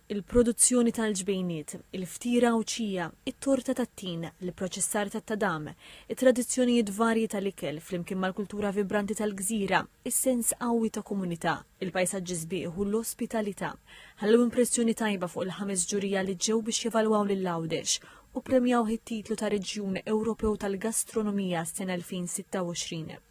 il-produzzjoni tal-ġbejniet, il-ftira Għawdxija, it-torta tat-tin, l-ipproċessar tat-tadam, it-tradizzjonijiet varji tal-ikel flimkien mal-kultura vibranti tal-gżira, is-sens qawwi ta' komunità, il-pajsaġġi sbieħ u l-ospitalità ħallew impressjoni tajba fuq il-ħames ġurija li ġew biex jevalwaw lil Għawdex u ppremjawh it-titlu ta' Reġjun Ewropew tal-Gastronomija s-sena 2026.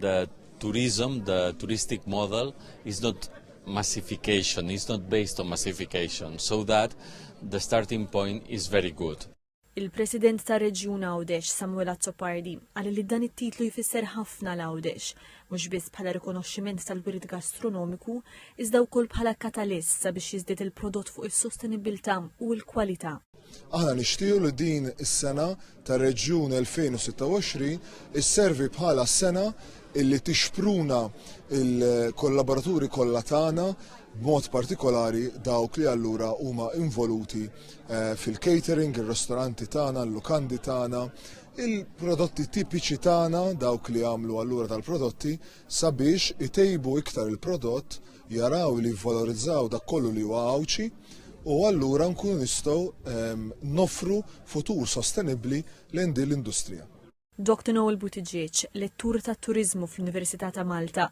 The tourism, the touristic model is not massification, is not based on massification, so that the starting point is very good. Il-President tar reġjun Għawdex, Samuel Azzopardi, qal li dan it-titlu jfisser ħafna l Għawdex, mhux biss bħala rikonoxximent tal-wirid gastronomiku, iżda wkoll bħala katalist sabiex jiżdied il-prodott fuq is-sostenibilità u l-kwalità. Aħna nixtiequ li din is-sena tar-Reġjun 2026 isservi bħala sena illi tixpruna il-kollaboraturi kollha tagħna b'mod partikolari dawk li allura huma involuti eh, fil-catering, ir-ristoranti tagħna, l-lukandi tagħna, il-prodotti tipiċi tagħna dawk li għamlu allura tal-prodotti sabiex itejbu iktar il-prodott jaraw li jivvalorizzaw dak kollu li huwa Għawdxi u allura nkunu nistgħu ehm, nofru futur sostenibbli lejn din l-industrija. Dr. Noel Buttigieg, lettur tat-turiżmu fl-Università ta' Malta,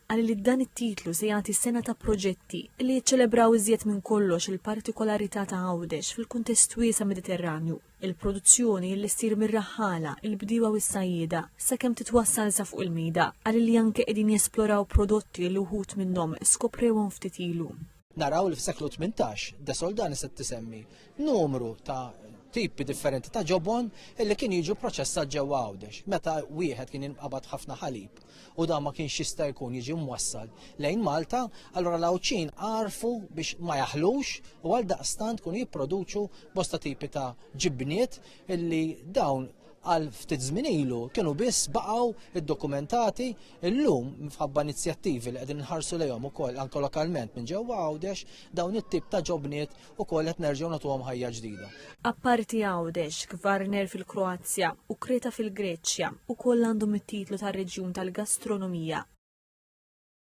qal li dan it-titlu se jagħti sena ta' proġetti li jiċċelebraw iżjed minn kollox il-partikolarità ta' Għawdex fil-kuntest wiesa' Mediterranju. il-produzzjoni li ssir mir-raħħala, il-bdiewa u s-sajjieda, sakemm titwassal sa fuq il-mejda, qal li anke qegħdin jesploraw prodotti li wħud minnhom skoprewhom ftit ilu. naraw li fis-seklu 18 De Soldani se tisemmi numru ta' tipi differenti ta' ġobon illi kien jiġu proċessat ġewwa Għawdex. Meta wieħed kien jinqabad ħafna ħalib u dan ma kienx jista' jkun jiġi mwassal lejn Malta, allura l-Għawdxin għarfu biex ma jaħlux u għaldaqstant kienu jipproduċu bosta tipi ta' ġibniet illi dawn għal ftit żmien ilu kienu biss baqgħu iddokumentati illum minħabba inizjattivi li qegħdin nħarsu lejhom ukoll anke lokalment minn ġewwa Għawdex dawn it-tip ta' ġobniet ukoll qed nerġgħu nagħtuhom ħajja ġdida. Apparti Għawdex, Kvarner fil-Kroazja u Kreta fil-Greċja ukoll għandhom it-titlu tar-Reġjun tal-Gastronomija.